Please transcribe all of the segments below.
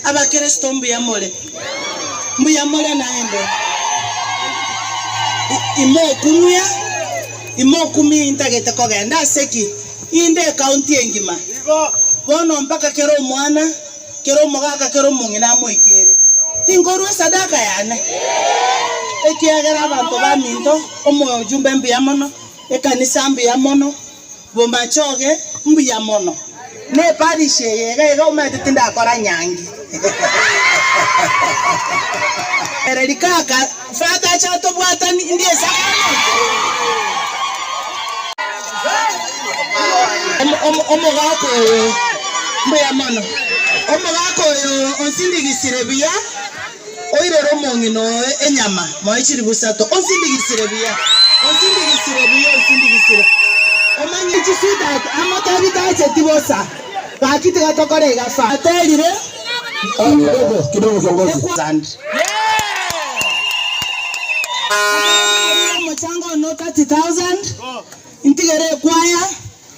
Abakristo mbuya more? Mbuya more naende? I- Imokumia, imokumia intagete kogenda ase ki? Inde ekaunti engima. Bono mpaka kera omwana, kera omogaka, kera omong'ina amoikere. Tinkorwa esadaka yane? Ekiagera abanto baminto, omojumbe mbuya mono. Ekanisa mbuya mono. Bomachoge mbuya mono. Ne parish eye iga iga omanyete tindakora nyangi. Ereri kaka Father acha otobwatani ndie Sacrament. Omogaka oyo mbuya mono. Omogaka oyo onsindigisire buya. Oirere omong'ina oye enyama, moe chilifu isato, osindigisire buya, osindigisire buya, osindigisire, omanye. Echisuda amo tebitacheti bosa, gaki tiga tokore egafa. Aterire, Kidogo, kidogo kiongozi. Ekwanire omochango one 30,000, ntigere ekwaya,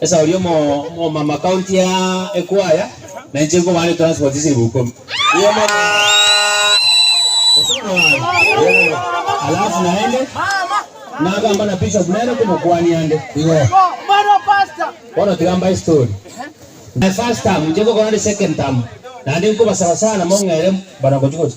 Esauri omo omama county ya ekwaya na inche nkoba are transport esiribu ikomi Niye omama Gose bono babe. Alafu naende nagamba na bishop nere komokwania ande igo bono tiga mbae story my first term inche ngokora ande second term naende nkobasaba sana mong'ere bana gochi gochi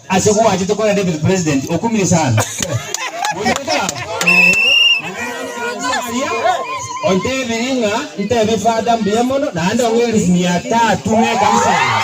Ase gwachete korera David president okumire sana. Moigwete baba? Mang'ana aria ontebiri ng'a ntebie fada mbuya mono naende ong'eris mia tatu ng'ekanisa eye.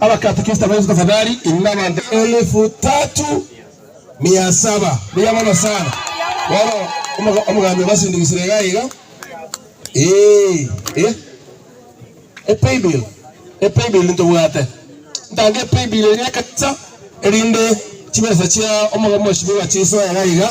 Abakatekista ba Yesu tafadhali iri nabanto elifu tatu mia saba buya mono sana bono omogambi obasindigisire iga iga eeh eh e paybill e paybill ntobwate ntange e paybill eria ekanisa erinde chibesa chia omogabo moshibe bachisoe iga iga.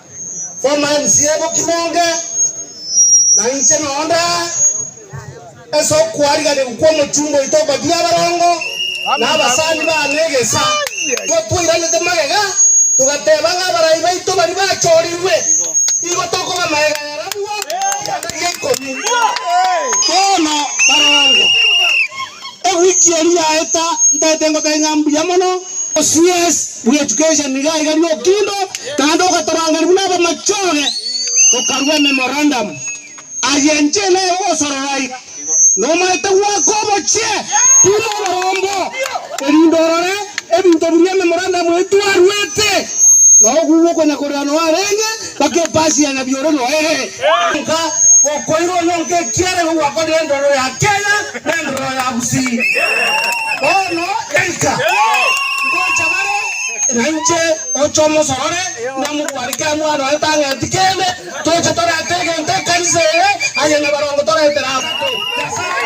Former MCA Bokinonge, na inche noo ndaa ase okwariganigwa kw'omochunga oito okobia abarongo na abasani baane egesa, igo twairanete magega, togateba ng'a abarai baito baria bachorirwe, igo tokoba magega yara abwo ekianda gia ikomi. Bono barongo, Ewiki eria yaeta ntaete ngoteba ng'a mbuya mono. OCS bwa Education nigo aiga riokindo naende ogatorangeria buna abamachoge tokarua ememorandum. Aye inche nere ogosorora aiga nomaete goaka obochie buna oborombe erinde orore ebinto biria ememorandum eye twaruete nao gugokwenyakorera noarenge. Bakepasia nabi ore noe, nka gokoirwa onyonka ekiagera ogwakwa nendoro ya kegena na endororo ya gusii. Bono gaika, ngocha bare, na inche oche omosorore, na mogware kera mwana oye tang'eti kende, toche torete egento ekanisa eye aye na barongo toretere abanto Nyasae.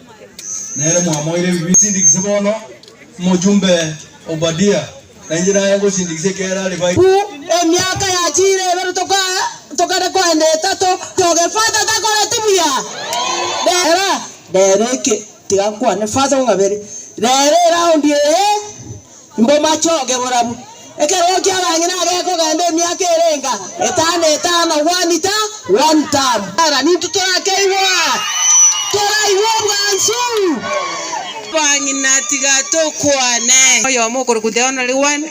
Nere mwamoire ebibi. Sindikise bono Omojumbe Obadia, na inche naye ngosindikise ekiagera are baito. Ku emiaka yachiire ebere toka tokare koenda etato toge Father takoreti buya. Rera rero eke tiga kwane Father ong'abere rero eraundi eye. Imbomache oge borabu ekerogo ki'abang'ina agekogenda emiaka erenga etano etano, one ta one term. Era ninto torakeigwa, toraigwe obwansu. Abang'ina tiga tokwane. Oyomo okorokwa the only one,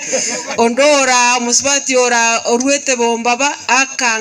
onde ora omosubati ora oruete bombaba, aka.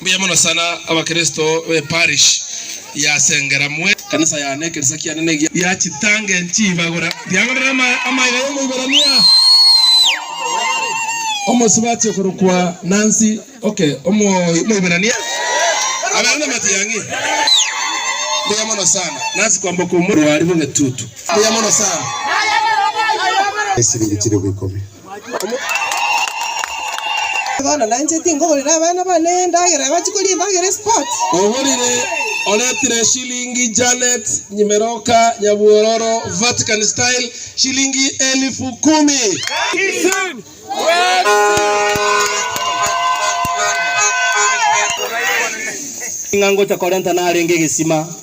Mbuya mono sana abakristo be parish ya Sengera mwe. Kanisa ya ne ekerisa kiane ne gia. Gia chitange nchibagura biang'orera amaega y'Omoiberania omosibati okorokwa Nancy Oke Omoiberania abere na matiang'i. Mbuya mono sana Nancy kwamboka omorwari bw'egetutu. Mbuya mono sana. Esiringi chilifu ikomi. Bono nainche tingogorera abana bane endagera, abache koria endagera e sports. Ogorire oretire shilingi Janet Nyimeroka Nyabwororo Vatican style shilingi elifu kumi. Ng'a ngocha korenta narenge egesima.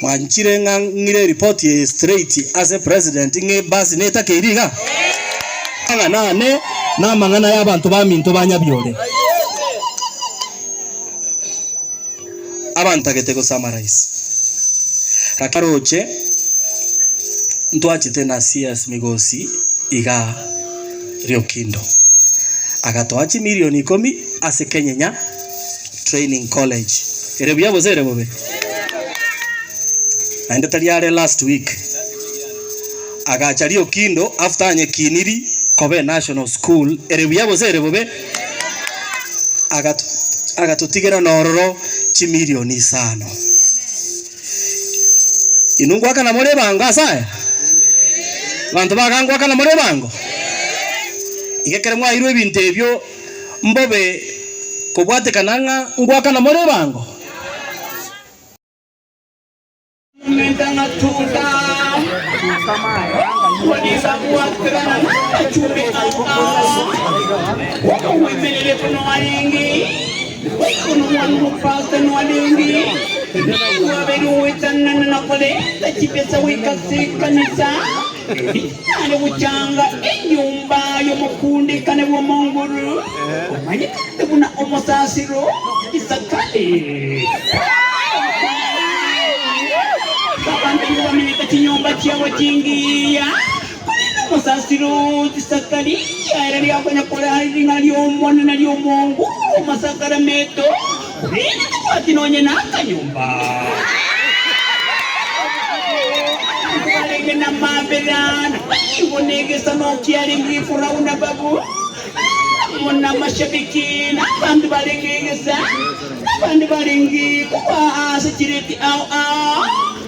Mwanchire ng'a ng'ire eripoti eye straight ase president ng'a ebasi netakeiri iga? Ng'a nane namang'ana y'abanto baminto ba Nyabiore abantagete gosummarize. Lakini roche ntwachete na CS Migosi igaa Riokindo agatoa chimilion ikomi ase Kenyenya. training college. Ere buya gose ere bobe? Naende tari are last week agacha riokindo after anyekiniri koba enational school. Ere buya gose ere bobe? Agat agatotigera nororo chimilioni isano. Inwe ngoakana more ebango ase aya? Abanto baga ngoakana more ebango? Iga ekero mwaeirwe ebinto ebio. Mbobe kobwatekana ng'a ngwakana more ebango. Ninyare gochanga enyomba y'omokundekane bw'omonguru, omanyetente buna omosasiro Isakari. Abanto nigo bamenyete chinyomba chiabo chingiya, korende omosasiro Isakari ere riakonya korera ring'ana ri'Omonene ri'omonguru bw'amasakrameto. Korende tobwati nonye nakanyomba. Abanto barenge namabera, na barigo negesano kiarenge Ekurau na Babu, amo namashabiki, na abanto barenge egesa, na abande barenge kobaa ase chireti ao ao.